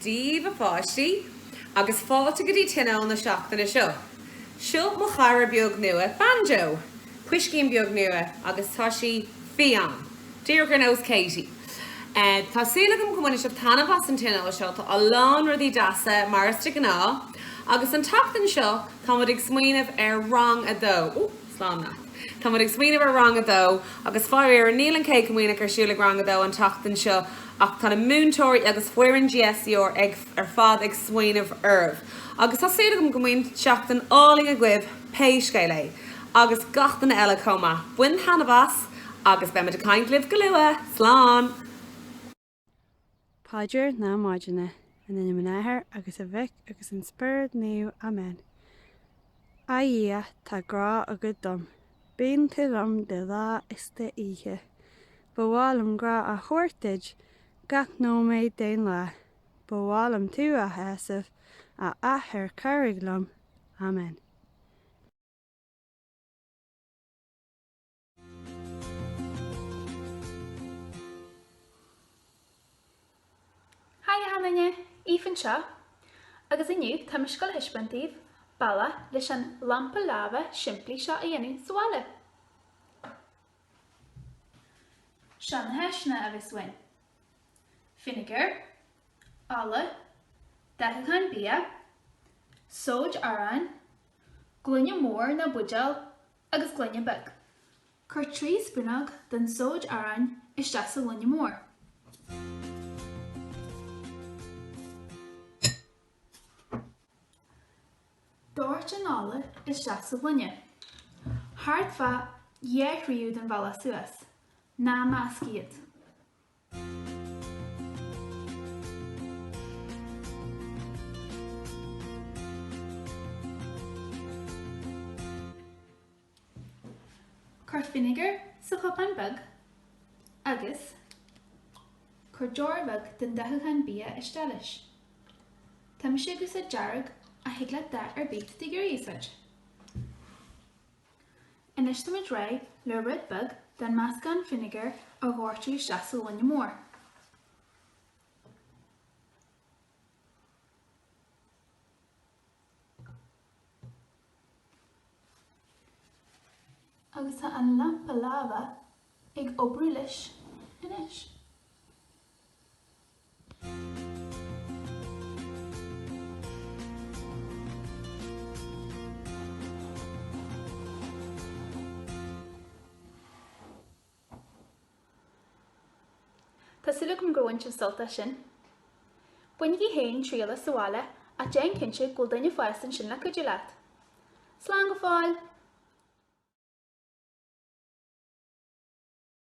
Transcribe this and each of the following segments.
Daoibh, a pháistí, agus fáilte go dtí tionól na seachtaine seo. Seo mo chara beag nua, Banjo, puiscín beag nua, agus tá sí fiáin, díreach ar nós Katie. Tá súil agam go mbainfidh sibh taitneamh as an tionól seo, tá a lán rudaí deasa, mar is de ghnáth, agus an tseachtain seo tá muid ag smaoineamh ar rang a dó. slán leat. Tá muid ag smaoineamh ar rang a dó agus faraor níl an Céad Comaoineach ar siúl ag rang a dó an tseachtain seo ach tá na múinteoirí agus foireann GSER ar fad ag smaoineamh oraibh agus tá súil agam go mbeidh seachtain álainn agaibh pé scéal é agus gach duine eile chomh maith. Bain taitneamh as agus beidh muid ag caint libh go luath. Slán! Paidir na Maidine. In ainm an Athar agus an Mhic agus an Spiorad Naomh. Amen. A Dhia, tá grá agat dom. Bíonn tú liom de lá is de oíche. Ba mhaith liom grá a thabhairt duit gach nóiméad den lá. Ba mhaith liom tú a shásamh, a Athair cabhraigh liom. Amen. Haigh achan duine! Aoife anseo agus inniu tá mise ag gabháil a thaispeáint daoibh bealach leis an lampa laibhe simplí seo a dhéanamh sa bhaile. Seo na háiseanna a bheas uainn, fínéagar, ola, dathúchán bia, sóid aráin, gloine mór nó buidéal agus gloine beag. Cuir trí spúnóg den tsóid aráin isteach sa ghloine mór. Doirt an ola isteach sa ghloine, thart fá dhá thríú den bhealach suas. Ná measc iad. Cuir fínéagar sa chupán beag agus cuir deoir bheag den dathúchán bia isteach leis. Tá mise ag úsáid dearg ach thig leat dath ar bith de ghil a úsáid. Anois táimid réidh le rud beag den meascán fínéagar a dhoirteadh isteach sa ghloine mór. Agus tá an lampa laibhe ag oibriú leis anois. Tá súil agam gur bhain sibh sult as sin. Bainigí féin triail as sa bhaile ach déan cinnte go bhfuil duine fásta ansin le cuidiú leat. Slán go fóill!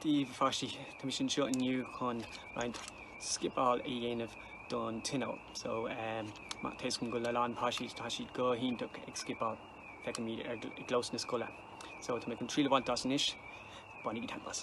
Dia daoibh, a pháistí, tá mise anseo inniu chun roinnt scipeáil a dhéanamh don Tionól. So, má tá a fhios againn go bhfuil a lán páistí, tá siad go hiontach ag scipeáil, feicimid ar i gclós na scoile. So, tá mé chun triail a bhaint as anois. Bainigí taitneamh as.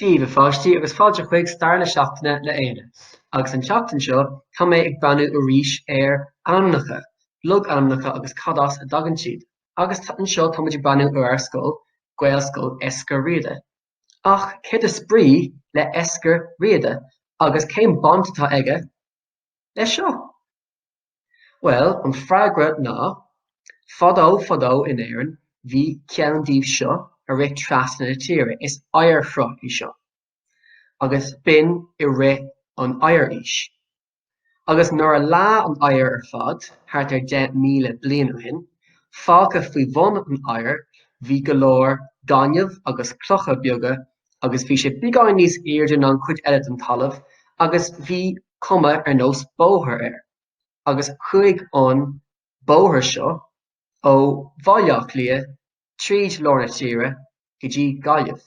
Dia daoibh, a pháistí, agus fáilte chuig Stair na Seachtaine le Éanna. Agus an tseachtain seo, tá mé ag breathnú arís ar ainmneacha, logainmneacha agus cad as a dtagann siad. Agus anseo, táimid ag breathnú ar ár scoil, Gaelscoil Eiscir Riada. Ach céard is brí le Eiscir Riada? Agus cén baint atá aige leis seo? Bhuel, an freagra ná, fadó fadó in Éirinn bhí ceann díobh seo ag rith trasna na tíre. Is oighearshruth í seo, agus b'in i rith an Oighearaois. Agus nuair a leá an oighear ar fad, thart ar 10,000 bliain ó shin, fágtha faoi bhun an oighir bhí go leor gaineamh agus clocha beaga agus bhí sé beagán níos airde ná an chuid eile den talamh agus bhí cuma ar nós bóthair air, agus chuaigh an bóthar seo ó Bhaile Átha Cliath tríd lár na tíre go dtí Gaillimh.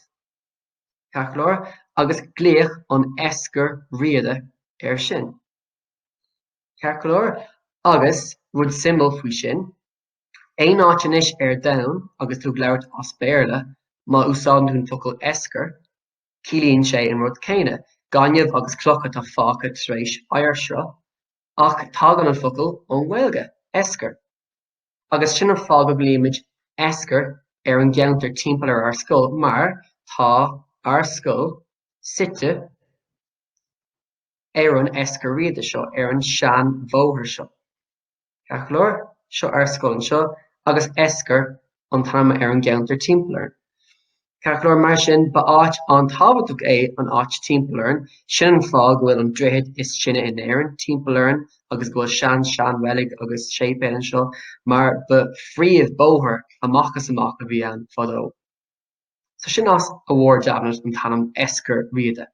Ceart go leor, agus glaodh an Eiscir Riada air sin. Ceart go leor, agus, rud suimiúil faoi sin, Aon áit anois ar domhan agus tú ag labhairt as Béarla, má úsáideann tú an focal eiscir, ciallaíonn sé an rud céanna, gaineamh agus clocha atá fágtha tar éis oighearshruth, ach tagann an focal ón nGaeilge, eiscir. Agus sin an fáth go nglaoimid eiscir ar an gceantar timpeall ar ár scoil mar tá ár scoil suite ar an eiscir riada seo, ar an seanbhóthar seo. Ceart go leor, seo ár scoil anseo, agus Eiscir an t-ainm ar an gceantar timpeall orainn. Ceart go leor, mar sin, ba áit an-tábhachtach é an áit timpeall orainn, sin an fáth go bhfuil an droichead is sine in Éirinn timpeall orainn agus go bhfuil sean-seanreilig agus séipéal anseo, mar ba phríomhbhóthar amach is amach a bhí ann fadó. So sin as a bhfuarthas an t-ainm Eiscir Riada.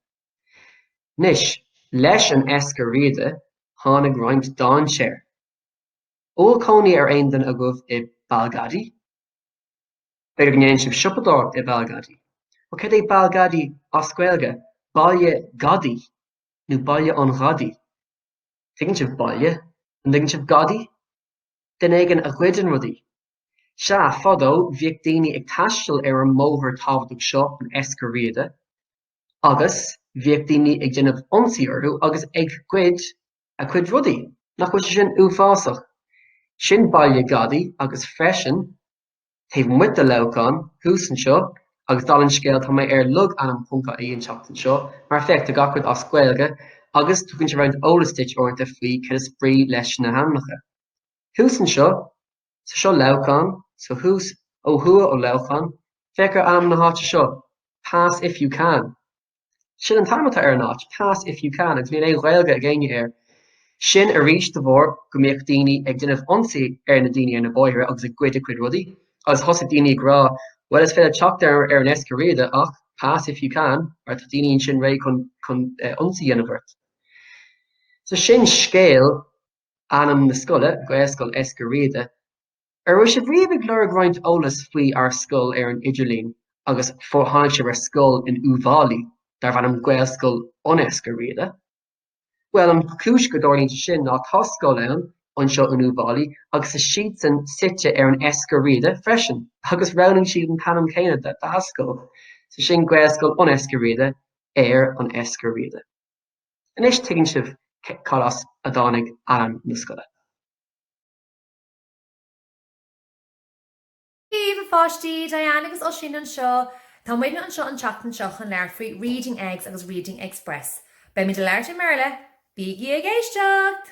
Anois, leis an Eiscir Riada, tháinig roinnt dainséir. An bhfuil cónaí ar aon duine agaibh i Balgadi? B'fhéidir go ndéanann sibh siopadóireacht i Balgadi. Bhuel, cad é Balgadi as Gaeilge? Baile Gadaí, nó Baile an Ghadaí. Tuigeann sibh baile, an dtuigeann sibh gadaí? Duine éigin a ghoideann rudaí. Sea, fadó, bhíodh daoine ag taisteal ar an mbóthar tábhachtach seo, an Eiscir Riada. agus bhíodh daoine ag déanamh ionsaí orthu agus ag goid a gcuid rudaí. Nach bhfuil sé sin uafásach? Sin baile gadaí agus freisin, taobh amuigh de Leamhcán, thuas anseo, agus dala an scéil, tá mé ar logainm ponc ie an tseachtain seo, mar féach, tá gach rud as Gaeilge agus tugann sé roinnt eolas duit uaireanta faoi cad is brí leis na hainmneacha. Thuas anseo. So seo Leamhcán, so thuas, ó thuaidh ó Leamhcán, féach ar ainm na háite seo, Pass if you can. Sin an t-ainm atá ar an áit, Pass if you can, agus níl aon Ghaeilge ag éinne air. Sin arís de bharr go mbíodh daoine ag déanamh ionsaí ar na daoine ar na bóithre agus ag goid a gcuid rudaí, agus thosaigh daoine ag rá, Bhuel, is féidir teacht ar an Eiscir Riada ach Pass if you can, mar tá daoine ansin réidh chun ionsaí a dhéanamh ort. So sin scéal ainm na scoile, Gaelscoil Eiscir Riada, An raibh sibh riamh ag lorg roinnt eolas faoi ár scoil ar an idirlíon agus gur tháinig sibh ar scoil in Uíbh Fháilí darb ainm Gaelscoil an Eiscir Riada, bhuel an chúis go dtarlaíonn sé sin ná tá scoil ann anseo in Uíbh Fháilí agus tá siadsan suite ar an Eiscir Riada freisin agus roghnaigh siad an t-ainm céanna dá scoil, so sin Gaelscoil an Eiscir Riada ar an Eiscir Riada. Anois tuigeann sibh cad as a dtáinig ainm na scoile. Dia daoibh, a pháistí! Diane agus Oisín anseo! Tá muidne anseo an tseachtain seo chun labhairt faoi Reading Eggs agus Reading Eggspress. Beimid ag labhairt i mBéarla, bígí ag éisteacht!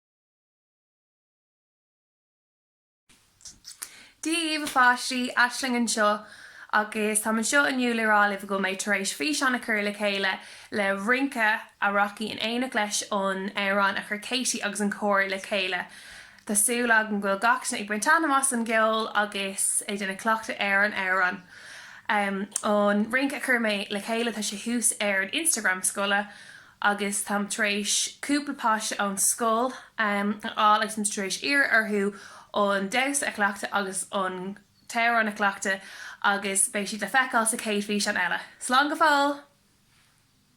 Dia daoibh, a pháistí, Aisling anseo agus táim anseo inniu le rá libh go bhfuil mé tar éis físeán a chur le chéile le rince a rachaidh in éineacht leis an amhrán a chuir Katie agus an cór le chéile. Tá súil agam go bhfuil gach duine ag baint taitneamh as an gceol agus ag déanamh cleachtaidh ar an amhrán. An rince a chuir mé le chéile, tá sé thuas ar an Instagram scoile. agus táim tar éis cúpla páiste ón scoil a fháil agus táim tar éis iarraidh orthu an damhsa a chleachtadh agus an t-amhrán a chleachtadh agus beidh siad le feiceáil sa chéad físeán eile. Slán go fóill!